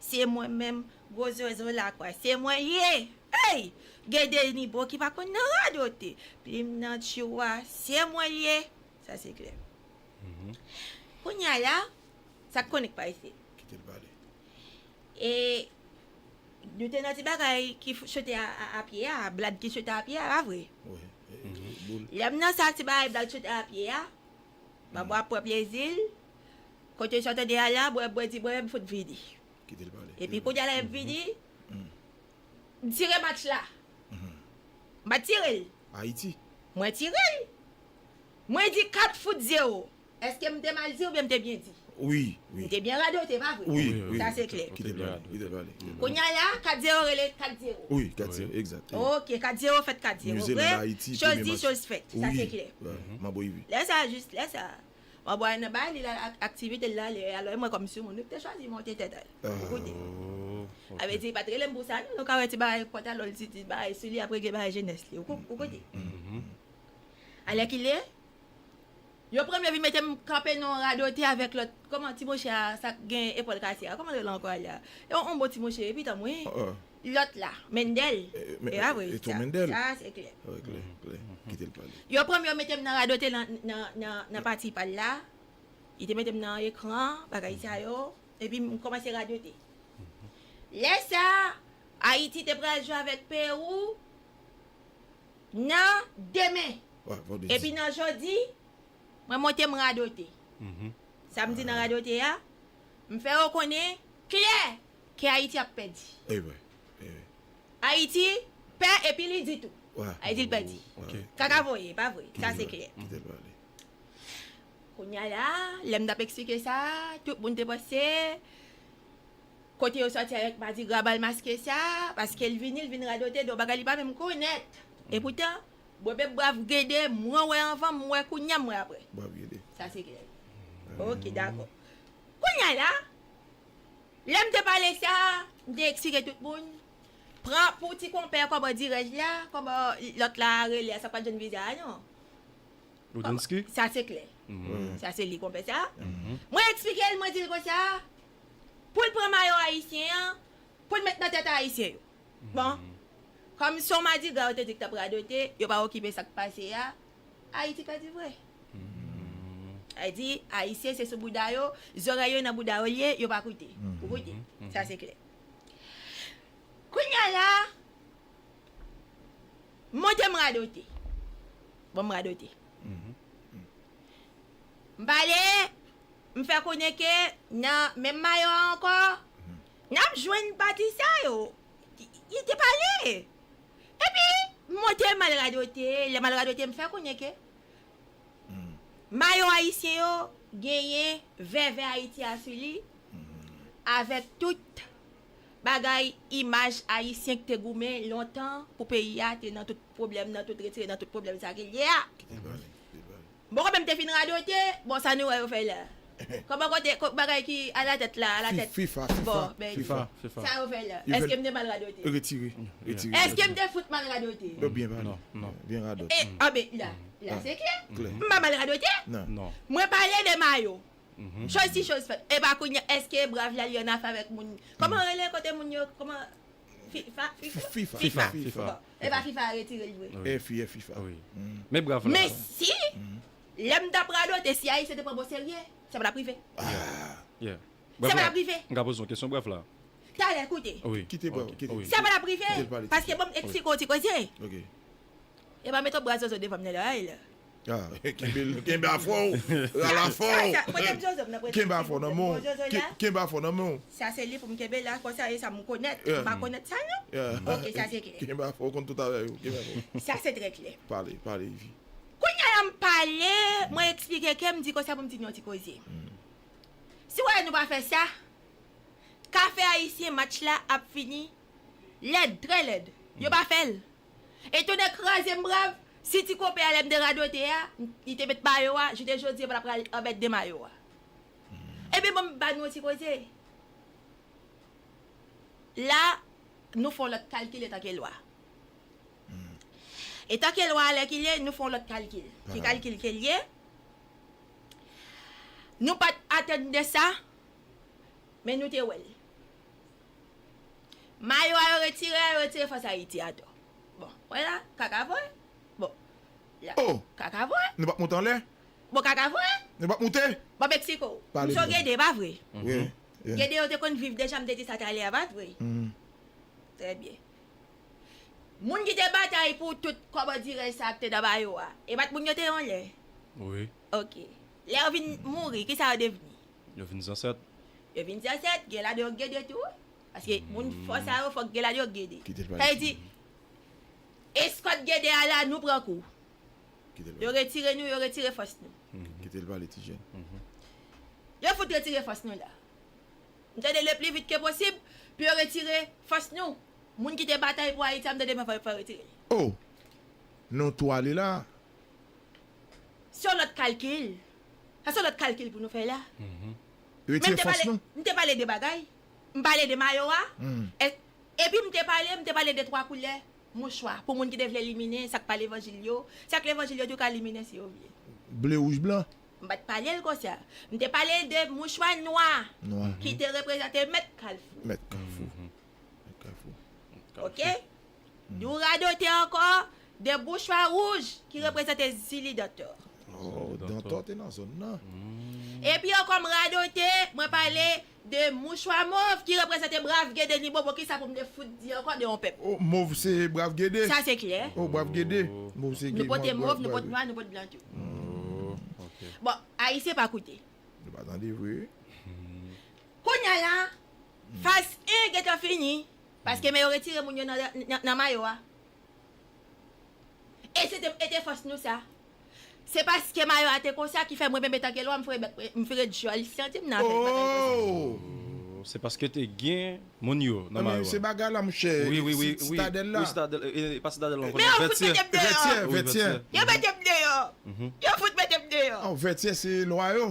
Se mwen menm gwo zozo lakwa se mwen ye eyy Gen de nibo ki pa konn nan radote Plim nan tchou a se mwen l ye Sa se klè Kounye a la Sa k konnik pa isi Kite l pale E Nou te nan ti bagay ki sote a pye a Blad ki sote a pye a pa vre Lè m nan sa ti bagay blad sote a pye a Bab wap pran plezi l Kote chante de ala bwè bwè di bwè fout vini epi kounya lè vini m tire match la m pat tire l mwen tire l mwen di 4 fout 0 eske m te mal di oubyen m te byen di m te byen radote pa vre sa se klè kounya la 4 0 rele 4 0 ok 4 0 fèt 4 0 vre choz di choz fèt sa se klè lè sa lè sa. Mwen bway nan bay li lal ak aktivite l la lè a lè mwen kòm soumoun li te chwazi monte tèt al pou koute. Sa vle di pat rele m pou sa non nou ka wè ti bagay pantalon l ti bagay sou li ap regle bagay jenès li ou koute. Alèkile yon premye vin mete m kanpe nan yon radote avèk lòt kòman ti mouche a sa k gen epòl kase a kòman l rele ankò Alya yon bon ti mouche epi tanm wi. Lòt la, Mendel, e a vre. Sa a se klè. Yo pran m yo mete m nan radote nan pati pa l la. Li te mete m nan ekran, bagay sa yo. Epi m kòmanse radote. Lè sa a, Ayiti te pral jwe avèk Pewou nan demen. Epi nan jodi, mwen monte m radote. Sa m di nan radote a, m fè yo konnen klè. Ke Ayiti ap pèdi. Ayiti pè epi li di tou. Ayiti l pèdi. Kaka voye, pa vre? Sa se klè. Kounye a la, lè m t ap eksplike sa, tout moun te panse, Kote yo sòti avèk madigra bal maske sa? Paske l vini, l vin radote de yon bagay li pa menm konèt. Epoutan, bwè bèp brav gede, mwen wè anvan, m wè kounye a, m wè aprè. Sa se klè. Ok, dakò. Kounye a la, Lè m te pale sa, m te eksire tout moun. Pran pou ti konpè kòman dirèj la, kòman lòt la a rele a sa pa t jwenn viza a non. Lodinsky? Sa se klè. Sa se li konpè sa. Mwen eksplike l, mwen di l konsa, pou l pran mayo ayisyen an, pou l met nan tèt ayisyen yo. Bon, kòm s on madigra yo te di k t ap radote, yo pa okipe sa k pase a, Ayiti pèdi vre. Sa vle di, Ayisyen se sou bouda yo, zòrèy yo nan bouda yo l ye, yo pa koute. Ou koute. Sa se klè. Kounye a la, monte m radote. Bon m radote. M pale, m fè konnen ke nan menm mayo a ankò, n ap jwenn pati sa yo. Li te pale! Epi, m monte, m al radote, lè m al radote, m fè konnen ke mayo ayisyen yo genyen vèvè Ayiti a sou li, avèk tout bagay imaj ayisyen ki te goumen lontan pou peyi a te nan tout pwoblèm, nan tout retire, nan tout pwoblèm sa ki l ye a. Ki te pale, ki te pale. Bon kòmèm te fin radote bon sa nou wè yo fè la kòman kote bagay ki alatèt la alatèt bon bèdi sa yo fè la èskem te mal radote retire retire èskem te fout mal radote yo byen pale non byen radot e anbe la la se klè m pa mal radote nan mwen pale de mayo choz si choz fèt epa kounya èske brav la li annafè avèk moun kòman rele kote moun yo kòman. Fifa E pa fifa a retire l vre Fi e fifa Mesi Lè m t ap radote si ayisyen te pran bon serye Sa pa t ap rive Sa pa t ap rive M ka poze yon kesyon brèf la Talè koute Sa pa t ap rive Paske bon m eksplike w ti koze E pa met yon bra zozo devan m nan la Kenbe a fò ou. Ral a fò ou. Kenbe a fò nan men ou. Kenbe a fò nan men ou. Sa se li pou m kenbe la. Fò sa e sa m konèt. M pa konèt sa non. Ok, sa se klè. Kenbe a fò ou konn tout avè yo. Kenbe a fò. Sa se trè klè. Pale, pale Yvi. Kounya la m pale, mwen eksplike ke m di konsa pou m di n yon ti koze. Si w wè nou pa fè sa, kafe ayisyen match la ap fini lèd, trè lèd. Yo pa fè l. E tonnè kraze m brav, si ti konpè a lè m te radote a, li te met mayo a, jounen jodi a m ta pral anmède mayo a. Ebyen ban m ba nou yon ti koze. La, nou fè yon lòt kalkil etanke lwa. Etanke lwa alèkile, nou fè yon lòt kalkil. Ki kalkil ke l ye? Nou pa t atann de sa, men nou te wè l. Mayo a yo retire a yo retire fas Ayiti atò. Bon, wè la, kaka vre. Bon, la, Oh! kaka vre. Nou pap moute anlè. Bon, kaka vre. Nou pap moute. Bon, Mexico. Pale Misye w Gede, pa vre? Wi, yeah. Gede yo te konn viv deja, m te di sa talè a, pa vre? Trè byen. Moun ki te batay pou tout kòbòdirèj sa a ki te nan Mayo a, e pa t moun yo te ye yon lè? Wi. Ok. Lè yo vin mouri, ki sa yo devni? Yo vin zansèt. Yo vin zansèt, gen ladan yo k gen 2 tou, paske moun fò sa yo fòk gen ladan yo k gen 2. Sa vle di, eskòt gen 2 a la, nou pran kou. Yo retire nou, yo retire fòs nou. Kite l pale ti jèn. Yo fout retire fòs nou la. M tande le pli vit ke posib pou yo retire fòs nou. Moun ki te batay pou Ayiti a m tande m fò yo retire li. Oh! Nou tou ale la. Se yon lòt kalkil. Sa son lòt kalkil pou nou fè la. Men m te pale, m te pale de bagay. M pale de mayo a. Epi m te pale, m te pale de twa koulè mouchwa pou moun ki te vle liminen sa k pa levanjil yo. Sa k levanjil yo tou ka liminen si yo vle. Ble, wouj, blan. M pa t pale l konsa. M te pale de mouchwa nwa ki te reprezante mèt kalfou. Mèt kalfou. Mèt kalfou. Ok? Nou radote ankò de bouchwa wouj ki reprezante Zili Dantò. Oh, Dantò te nan zòn nan. Epi ankò m radote, mwen pale de mouchwa mov ki reprezante Brav Gede ni Bobo. Kisa pou m te fout di ankò de yon pèp? Oh, mov se Brav Gede. Sa se klè. Oh, Brav Gede. Mov se. Nou pote mov, nou pot nwa, nou pot blan tou. Oh, ok. Bon, Ayisyen pa koute. Yo pa tande vre. Kounya la, faz 1 gentan fini. Paske men yo retire moun yo nan mayo a. E se te e te fòs nou sa. Se paske mayo a te konsa ki fè mwen benben tanke lwa m fre bèk m fre dyòl santi m nan afè bagay konsa. Ooh se paske te gen moun yo nan mayo a. Se bagay la monchè sitadèl la. E pa sitadèl non kounye a vètyè. Vètyè vètyè. Yo mete m deyò. Yo fout mete m deyò. Vètyè se lwa yo.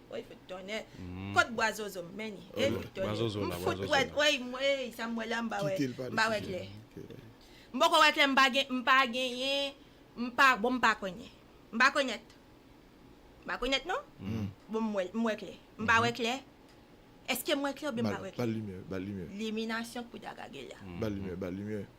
Woy fout tonnè kot bwa zozo m menni hey fout tonnè m fout wè woy m wè sa m wè la m pa wè m pa wè klè m poko wè klè m pa gen m pa genyen m pa bon m pa konnen m pa konèt m pa konèt non bon m wè m wè klè m pa wè klè èske m wè klè oubyen m pa wè klè liminasyon k pou ta gage la.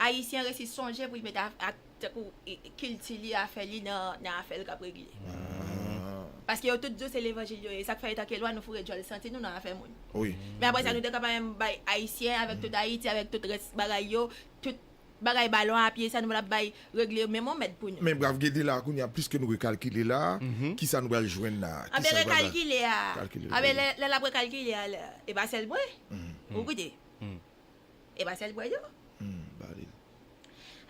Ayisyen resi sonje pou li met ak tankou kilti li, afè li nan afè l k ap regle. Paske yo tout di w se levanjil yo ye. Sa k fè etanke lwa nou foure djòl santi nou nan afè moun. Men apre sa nou te ka pa menm bay Ayisyen avèk tout Ayiti avèk tout rès bagay yo, tout bagay balon a pye sa nou pral bay regle menm yon mèd pou nou. Men brav gede la a kounye a plis ke nou rekalkile la a, ki sa nou pral jwenn la a? Anben rekalkile a, anben lè l ap rekalkile a la, e pa sèl mwen. Ou gade. E pa sèl bwè dlo. Bali.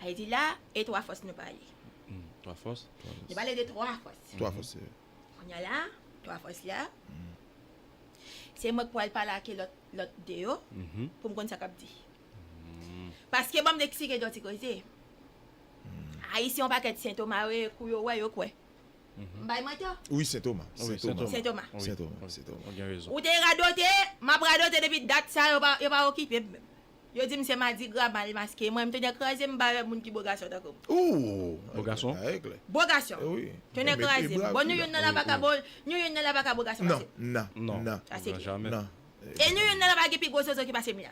Ayiti la e twa fòs nou pale. Twa fòs. Nou pale de twa fòs. Twa fòs se. Kounya la twa fòs la se mwen k pwal pale ake lòt lòt de yo pou m konn sa k ap di. Paske banm eksplike yon ti koze. Ayisyen yon pakèt sentoma yo ye kou yo wè yo kwè. M bay manti a? Wi Sentoma. Sentoma. Ou te radote, m ap radote depi dat sa yo pa yo pa okipe m menm. Yo di m se madigra mal maske mwen m tonnè kraze m bare moun ki bo gason tankou m. Bo gason? Bo gason. Tonnè kraze m. Bon nou youn nan la pa ka bo nou youn nan la pa ka bo gason pase m. Nan. Nan. Sa se kle. Nan. E nou youn nan la pa gen pi gwo zozo ki pase m la.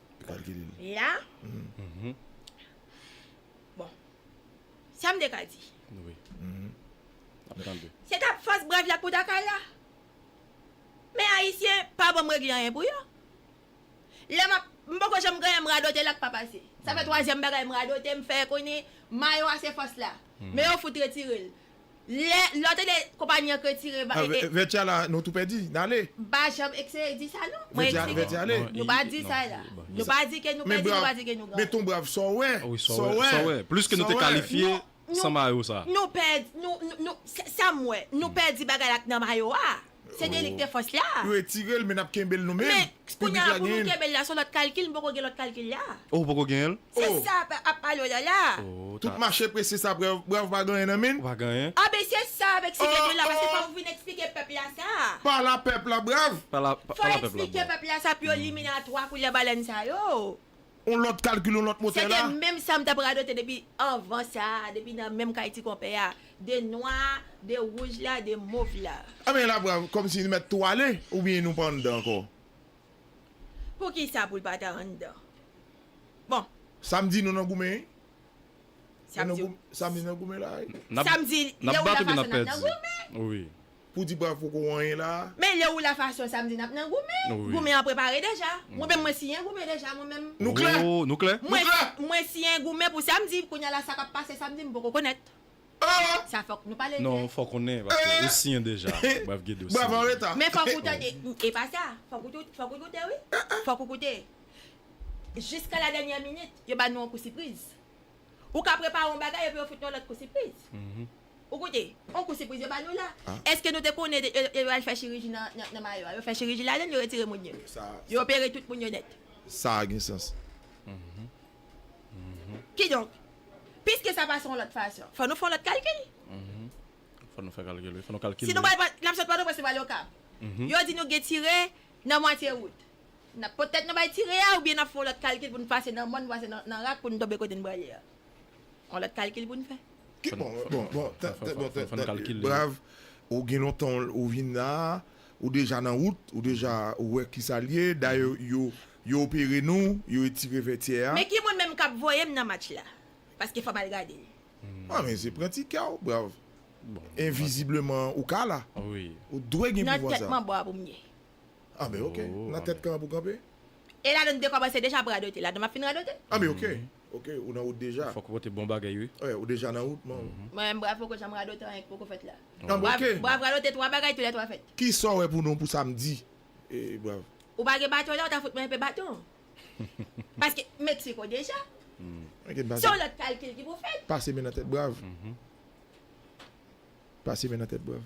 La, bon, sa m te ka di. Se t ap fòs brad la k pou ta kay la. Men Ayisyen pa ban m regle anyen pou yo. Lè m ap, m poko janm genyen m radote la k pa pase. Sa fè twazyèm bagay m radote, m fè konnen mayo a se fòs la. Men yo fout retire l. Lè lòt ede konpayi an k retire ba e. Vètyè a la nou tou pèdi. N ale. Ba janm ekseye di sa non. Mwen eksplike. Vètyè ale. Nou pa di sa la. Nou pa di ke nou pèdi, nou pa di ke nou gaye. Men ton brav sa w wè. Wi sa w wè. Sa w wè. Plis ke nou te kalifye san mayo sa. Nou pèdi. Nou, nou, nou, sa m wè. Nou pèdi bagay la k nan mayo a. Se delik te fòs la. Retire l men nap kenbe l nou menm. Men, kounya la pou nou kenbe l la son lòt kalkil m poko gen lòt kalkil la. Oh ou poko genyen l? Se sa ap pale w la la. Tout mache prese sa bravo pa gen anyen nan men. Pa gen anyen. Ah ben se sa avèk si gen de la paske fòk ou vin eksplike pèp la sa. Pa la pèp la bravo. Pa la pèp la bravo. Fò eksplike pèp la sa pou yo liminatwa koulè balèn sa yo. on lòt kalkil, on lòt motè la. Se te menm sa m t ap radote depi anvan sa a, depi nan menm kay ti konpè a. De nwa a, de wouj la, de mov la. Anben la vwa kòmsi li mèt tou ale oubyen nou pa anndan ankò? Poukisa pou l pa ta anndan? Bon. Sa m di nou nan goumen wi. Sa m di w. Sa m di nou nan goumen la wi. Sa m di lè ou nan fason n ap nan goumen. Pou di bravo kou anyen la a. Men lè ou la fason sa m di n ap nan goumen. Goumen an prepare deja. Mwen menm mwen siyen goumen deja mwen menm. Nou klè? Nou klè? Nou klè? Mwen siyen goumen pou samdi. Kounye a la sa k ap pase samdi m poko konèt. Sa fòk nou pale l klè. Non fò w konnen paske ou siyen deja. Brav Gede ou siyen deja. Brav anreta. Men fòk ou tande. E pa sa. Fòk ou tou fòk ou koute wi. Fòk ou koute. Jiska la dènyè minit yo ba nou yon kou sipriz. Ou ka prepare yon bagay epi yo fout nou yon lòt kou sipriz. Ou koute, on kou sipriz yo ba nou la. Eske nou te konnen de yo yo al fè chiriji nan nan mayo a? Yo fè chiriji ladan l, yo retire moun yo. Yo opere tout moun yo nèt. Sa a gen sans. Kidonk, piske sa pa se yon lòt fason, fò nou fè yon lòt kalkil. Fò nou fè kalkil wi. Fò nou kalkile. Si nou pral pran, n ap sot Pòtoprens, nou pral Okap. Yo di nou gen tire nan mwatye wout. N ap pot tèt nou bay tire a oubyen n ap fè yon lòt kalkil pou n pase nan mòn, pase nan nan rak pou n tonbe kote n prale a? On lot kalkil pou n fè. Ki bon bon bon bon brav ou gen lontan ou vin la ou deja nan wout ou deja ou wè kisa l ye dayè yo yo opere nou yo etire vètyè a. Men ki moun menm kap voyem nan match la paske fòm al gade l. An men se pran ti kè w brav envizibleman ou ka la ou dwe gen pouvwa sa. Nan tèt manbo a pou m ye. An men ok nan tèt kan an pou kanpe. E la donn te kòmanse deja ap radote la donn map fin radote. An men ok. Ok ou nan wout deja. Fok ou pote bon bagay wi. Ou deja nan wout man. Mwen menm bra poko janm radote anyen ki poko fèt la. Bra vradote 3 bagay tou lè 3 fèt. Kisa w wè pou nou pou samdi brav. Ou pa gen baton la ou ta fout mwen enpe baton. Paske Mexico deja. Se yon lot kalkil ki pou fèt. Pase men nan tèt brav. Pase men nan tèt brav.